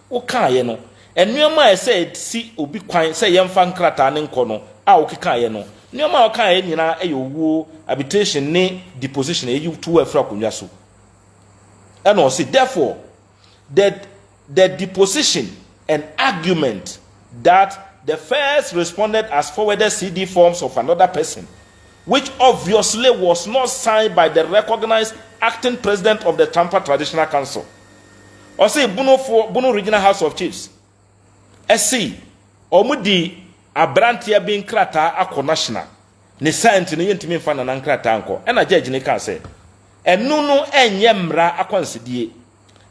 wokaeɛ no, nneɛma a ɛsɛ ɛsi obi kwan sɛ yɛmfa nkrataa no nkɔ no a wokekaeɛ no, nneɛma a wokaeɛ nyinaa yɛ owuo, habitation ne deposition, ɛyi to wo afiri akonnwa so. Ɛna ɔse, therefore, the, the deposition and argument that the first respondent has forwarded CD forms of another person, which obviously was not signed by the recognized acting president of the Tampa Traditional Council, ɔse Bono foɔ, Bono Regional House of Chiefs, ɛse wɔn de abranteɛ bi nkrataa akɔ National, ne saa nti no yɛntumi nfa Nana nkrataa nkɔ, ɛna judge no kaa sɛ, ɛno no ɛnyɛ mmara akwansidie,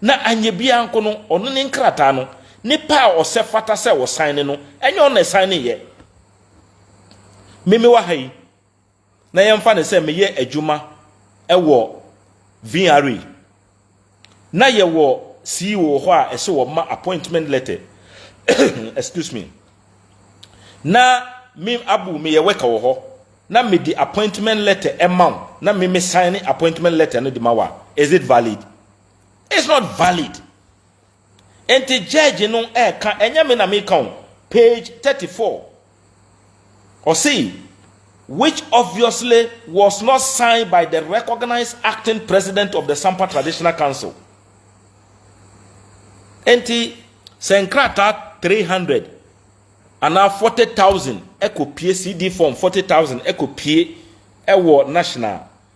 na anyɛ biara nko no, ɔno ne nkrataa no, nipa a ɔsɛ fata sɛ ɔsan ne no, ɛnyɛ ɔno na ɛsan ne yɛ. Meme wɔ ha yi. na yɛmfa no sɛ meyɛ adwuma wɔ VRA na yɛwɔ CEO wɔ hɔ a ɛsɛ wɔma appointment letter excuse me na me abu meyɛ worker wɔ hɔ na mede appointment letter ɛma wo na me me sign appointment letter no de ma wo a is it valid it's not valid Enti judge no ɛka, ɛnyɛ me na meka o, page thirty four, ɔse, which obviously was not signed by the recognised acting president of the Sampa Traditional Council. Enti sɛ nkrataa three hundred anaa forty thousand ɛkɔpue, CD form forty thousand ɛkɔpue ɛwɔ National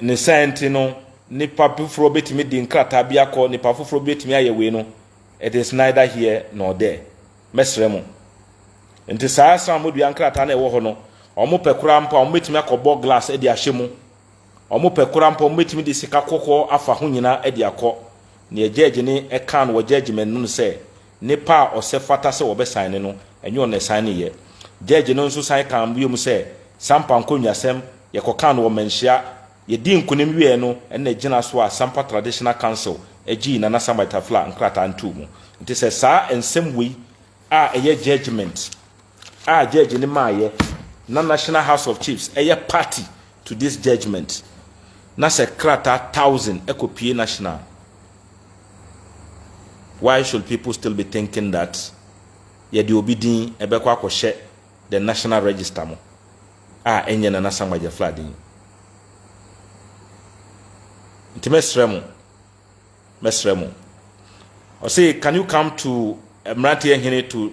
ne saa nti no, nipa foforɔ bɛtumi de nkrataa bi akɔ, nipa foforɔ bɛtumi ayɛ wei no, it is neither here nor there. Mɛsrɛ mo. Nti saa srammɔdua nkrataa no ɛwɔ hɔ no, wɔn pɛ koraa mpo a wɔn bɛtumi akɔbɔ glass de ahyɛ mu. Wɔn pɛ koraa mpo wɔn bɛtumi de sika kɔkɔɔ afa ho nyinaa de akɔ. Nea gyɛɛgye ne ɛkaa no wɔ gyɛɛgyeman no sɛ, Nipa a ɔsɛ fata sɛ wɔbɛsan no no, ɛnyɛ ɔno na ɛsan no yɛ. Gyɛɛgye no nso san kaa bio sɛ, Sampa nkonnwasɛm, yɛkɔkaa no wɔ mmanhyia. Yɛdii nkonim wieeɛ no, ɛnna ɛgyinaa so a Sampa Traditional Council gyee Nana Sambaitafla nkrataa no too mu. Nti sɛ saa nsɛm wei a ɛyɛ judgement a judge no maayɛ na National House of Chiefs yɛ party to this judgement na sɛ krataa thousand kɔ pue national why should people still be thinking that yɛde obi din ɛbɛkɔ akɔhyɛ the national register mo a ɛnyɛ Nana Samuel Gyafla din nti mɛsrɛ mo mɛsrɛ mo ɔse can you come to mmeranteɛ hene to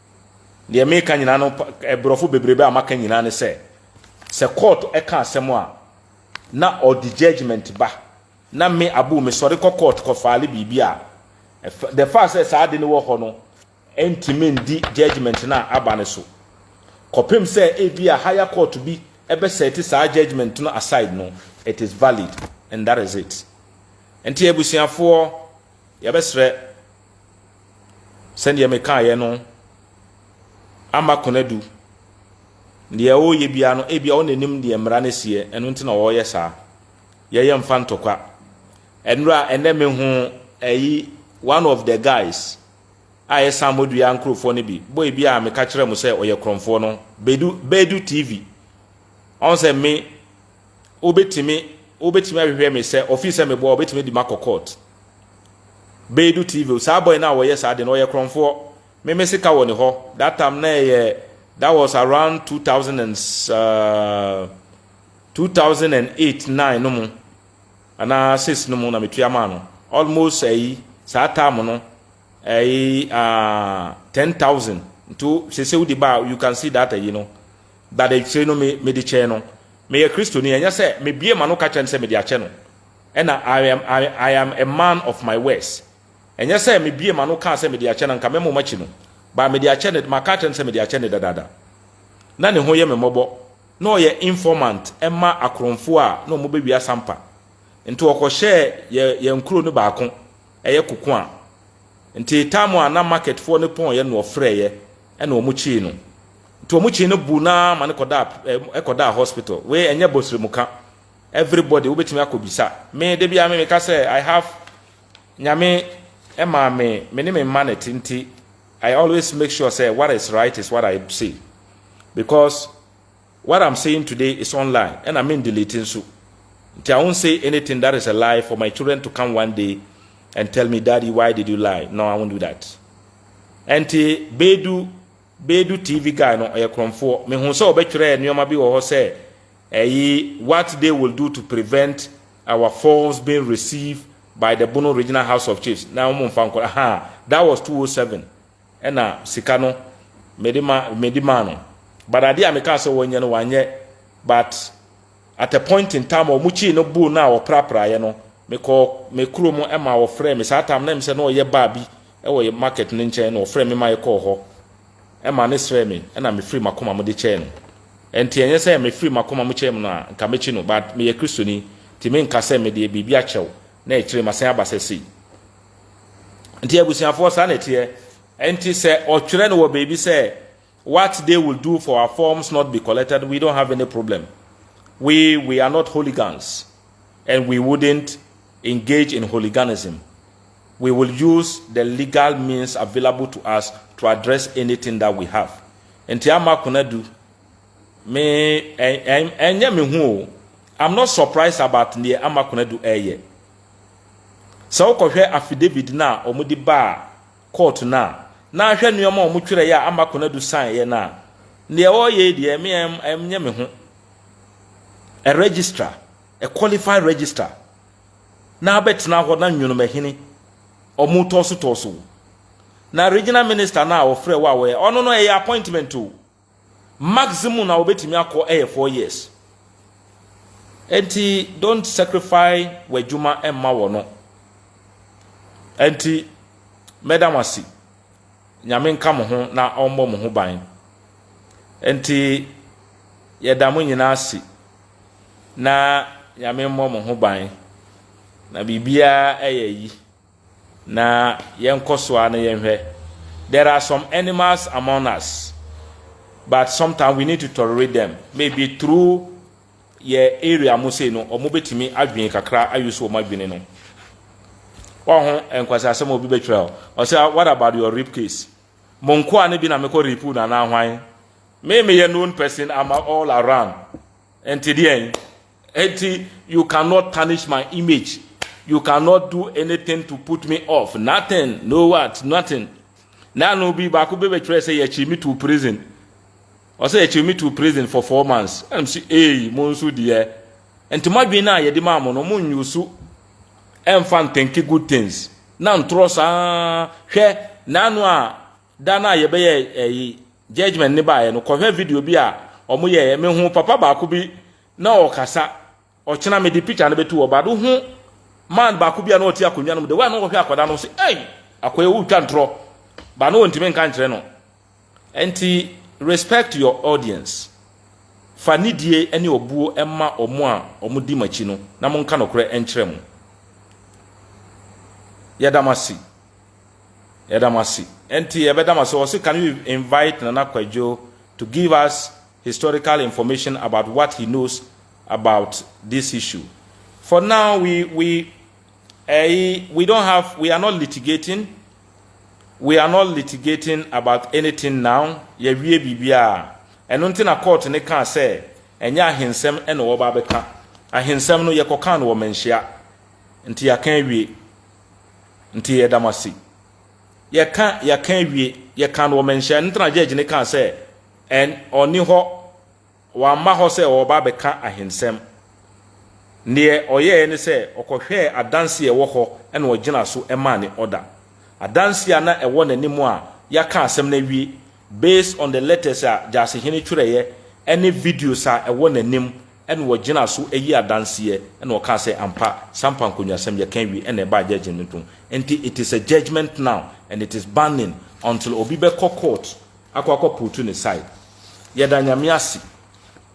Deɛ meka nyinaa no, aborɔfo bebrebe a maka nyinaa ne sɛ, sɛ court ka asɛm a, na ɔde judgement ba, na me Abu mesɔre kɔ court kɔ file biribi a, the fact sɛ saa ade no wɔ hɔ no ntumi ndi judgement no a aba no so. Kɔpem sɛ ebi a higher court bi bɛ set saa judgement no aside no, it is valid and that is it. Nti abusuafoɔ, yɛbɛsrɛ, sɛdeɛ mekaeɛ no, ama Konadu. Deɛ ɔreyɛ biara no, ebia ɔna anim deɛ mmara no seɛ, ɛno nti na ɔreyɛ saa. Yɛyɛ mfa ntɔkwa. Ɛnora, ɛnɛ me ho ɛyi one of the guys a ɛsan mɔdua nkurɔfoɔ no bi, bɔ ebi a meka kyerɛ mo sɛ ɔyɛ korɔmfoɔ no, Bedu, Bedu TV. Ɔn sɛ me, wobɛtumi, wobɛtumi ahwehwɛ me sɛ, ɔfii sɛ mebɔ a, ɔbɛtumi adi makɔ court. Beidou TV o saa boy no a ɔyɛ saa de no ɔyɛ korɔnfoɔ me me sika wɔ ne hɔ that time na ɛyɛ that was around two thousand and uh, two thousand and eight nine no mu anaa six no mu na metua maa no almost ɛyi eh, saa time no ɛyi eh, uh, ah, ten thousand nti sese wodi ba you can see that ɛyi eh, no that ɛkyire no me me de kyɛn no meyɛ kristoni ɛnyɛ sɛ mebie ma no ka kyerɛ no sɛ mede akyɛ no Ɛna I am I I am a man of my words. Ɛnyɛ sɛ me bue m'ano kaa sɛ mede akyɛ no anka mɛma ɔmo akyi no but mede akyɛ no maka akyerɛ no sɛ mede akyɛ no dadaada. Na ne ho yɛ me mmɔbɔ. Na ɔyɛ informant ma akorɔmfoɔ a na ɔmo bɛwia sampa. Nti ɔkɔhyɛɛ yɛ yɛn kuro no baako ɛyɛ koko a. Nti time a na market foɔ no pɔɔeɛ no ɔfrɛɛyɛ ɛna ɔmo kyee no. Nti ɔmo kyee no buu no ara ma no kɔdaa ɛkɔdaa hospital. Wei ɛnyɛ bɔsrɛmu ka. Everybody wobɛtumi akɔ bisa. Me da biara me meka sɛ I have Nyame ɛmaa me me ne me mma na ɛte nti I always make sure sɛ what is right is what I say because what I'm saying today is online ɛna me delete nso nti I won't say anything that is a lie for my children to come one day and tell me daddy why did you lie no I won't do that ɛnti bedu Bedu TV guy no ɔyɛ krɔnfoɔ. Me hu sɛ ɔbɛtwerɛɛ nnoɔma bi wɔ hɔ sɛ ɛyi what they will do to prevent our phones being receive by the Bono regional house of chiefs na wɔn nfa nkɔ ahaa that was two o seven ɛna sika no mede ma mede maa no but adeɛ a me kaa sɛ wɔnyɛ no wanyɛ but At a point in time a wɔkyii no boo no a wɔprapraeɛ no, mekɔɔ me kurom ma wɔfrɛɛ me. Saa time no na ɛm sɛ na ɔyɛ bar bi wɔ yɛ market no nkyɛn na wɔfrɛɛ me ma yɛkɔɔ hɔ ma no srɛɛ me na mefiri m'akoma mu de kyɛɛ no. Ɛnti ɛnyɛ sɛ mefiri m'akoma mu kyɛɛ mu no a nka mɛkyi no but meyɛ Kristoni nti menka sɛ medeɛ biribi akyɛw na akyire masan aba sɛ sei. Nti abusuafoɔ saa na ɛteɛ. Ɛnti sɛ ɔtwerɛ no wɔ baabi sɛ What they will do for our forms not be collected we don't have any problem we we are not hooligans and we wouldn't engage in hooliganism we will use the legal means available to us to address anything that we have nti ama konadu me ɛnyɛ me ho o I'm not surprised about neɛ ama konadu ɛyɛ sɛ wokɔhwɛ affidavit no a wɔde baa Court no a, na ahwɛ nnoɔma a wɔtwerɛeɛ a amma Konadu saeɛ no a, deɛ ɔreyɛ yi deɛ, me ɛnyɛ me ho. A registrar, a qualified registrar, na abɛtena hɔ na nwonomahini, wɔretɔɔso tɔɔso wo. Na regional minister no a wɔfrɛ wo a wɔyɛ, ɔno no ɛyɛ appointment o. Maximum a wobɛtumi akɔ yɛ four years. Enti don't sacrifice w'adwuma mma wɔ no. Enti mɛda mo ase. Nyame nka mo ho na ɔmmɔ mo ho ban. Enti yɛda mo nyinaa ase na Nyame mmɔ mo ho ban. Na biribiara yɛ yi. Na yɛnkɔ so ara na yɛnhwɛ. There are some animals among us, but sometimes we need to tolerate them. Maybe through yɛ area mo sei no, wɔn bɛtumi adwene kakra ayi so wɔn adwene no. Wɔho nkwasi asɛm a obi bɛtwerɛ hɔ. Ɔsɛ, what about your rape case? Mo nkoa no bi na mekɔ rape na anaa hwan? Me meyɛ known person ama all around. Nti deɛn? Enti you cannot tarnish my image, you cannot do anything to put me off, nothing, no what, nothing. Na ano bi baako bi bɛtwerɛ sɛ yɛkyiri me to prison. Ɔsɛ yɛkyiri me to prison for four months. Ɛnam si ee mo nso deɛ. Nti mo adwene no a yɛde maa mo no mo nyo so ɛmfa nthinki good things. Na ntorɔ saa hwɛ na ano a Da no a yɛbɛyɛ ɛyi judgement ne baeɛ no, kɔhwɛ video bi a ɔmo yɛeɛ. Me hu papa baako bi na ɔɔkasa. Ɔkyena me de picture no bɛto hɔ but wo hu man baako bi a na ɔte akonnwa no mu, the way a na ɔɔhwɛ akwadaa no, wo se ei! Akoa yi wootwa ntorɔ. But na ɔntumi nka nkyerɛ no. Ɛnti respect your audience. Fa nidie ɛne ɔbuo ɛma ɔmo a ɔmo di mo akyi no na mo nka nokorɛ ɛnkyerɛ mo. Yɛda mo ase. Yɛda mo ase. Ɛnti yɛbɛda mo ase. Ɔse can you invite Nana Kwadwo to give us historical information about what he knows about this issue. For now we we ɛyi we don't have we are not litigating we are not litigating about anything now yɛwie biribiara. Ɛno nti na court no kaa sɛ ɛnyɛ ahensɛm na wɔba abɛka. Ahensɛm no yɛkɔkaa no wɔ manhyia nti yɛaka awie. Nti yɛda mo ase. Yɛka yɛka awie, yɛka no wɔ manhyia no tena judge ne kaa sɛ ɛn ɔni hɔ, wamma hɔ sɛ ɔreba abɛka ahensɛm. Neɛ ɔyɛɛ ne sɛ ɔkɔhwɛɛ adanse a ɛwɔ hɔ na ɔgyina so maa ne order. Adanse a na ɛwɔ n'anim a yɛaka asɛm no awie, Based on the letters a Gyasehene twerɛeɛ ne videos a ɛwɔ n'anim na wɔgyina so yi adanseɛ na wɔkaa sɛ ampa Sampa Nkonwasɛm yɛka awie na ɛbaa judgement ho nti it is a judgement now and it is binding until obi bɛkɔ court akɔ akɔ putu ne side. Yɛda Nyame ase.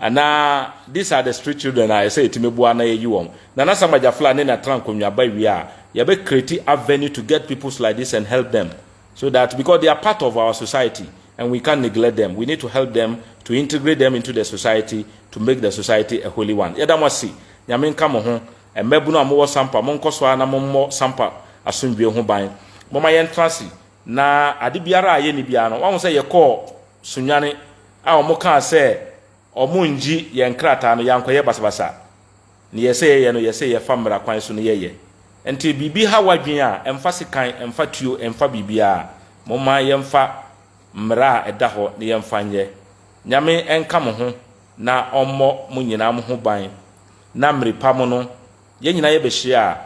Anaa these are the street children a ɛsɛ yɛtumi boa na yɛyi wɔn. Nana Sam Agyafla ne Natra Nkonwa ba wie a, yɛbɛ create avenue to get peoples like this and help them so that because they are part of our society and we can't neglect them, we need to help them to integrate them into the society to make the society a holy one. Yɛda mo ase. Nyame nka mo ho. Mmabunu a mowɔ Sampa, monkɔ so ara na mommɔ Sampa asomdwoe ho ban. Momma yɛntra ase na ade biara a yɛnni biara no, wɔahu sɛ yɛkɔɔ Sunyani a wɔkaa sɛ wɔnngye yɛn nkrataa no, yɛannkɔyɛ basabasa. Nea ɛsɛ yɛyɛ no, yɛsɛ yɛfa mmara kwan so na yɛyɛ. Ɛnti biribi ha w'adwene a, ɛmfa sekan, ɛmfa tuo, ɛmfa biribiara, momma yɛmfa mmara a ɛda hɔ na yɛmfa nyɛ. Nyame nka mo ho na ɔmmɔ mo nyinaa mo ho ban na mmere pa mo no, yɛn nyinaa yɛbɛhyia a,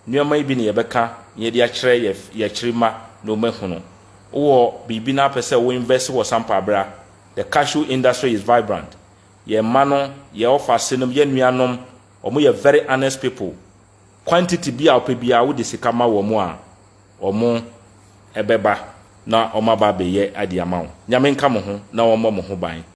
Nneɛma yi bi na yɛbɛka na yɛde akyerɛ yɛn yɛn akyiri mma na wɔahunu. Wowɔ biribi na wopɛ sɛ wo invest wɔ sampa bra. The cashew industry is vibrant. Yɛn mma no, yɛn ɔfase nom, yɛn nuanom, wɔn yɛ very honest people. Quantity bi a wopɛ biara wode sika ma wɔn a, wɔbɛba na wɔaba abɛyɛ ade ama wo. Nyame nka mo ho na ɔmmɔ mo ho ban.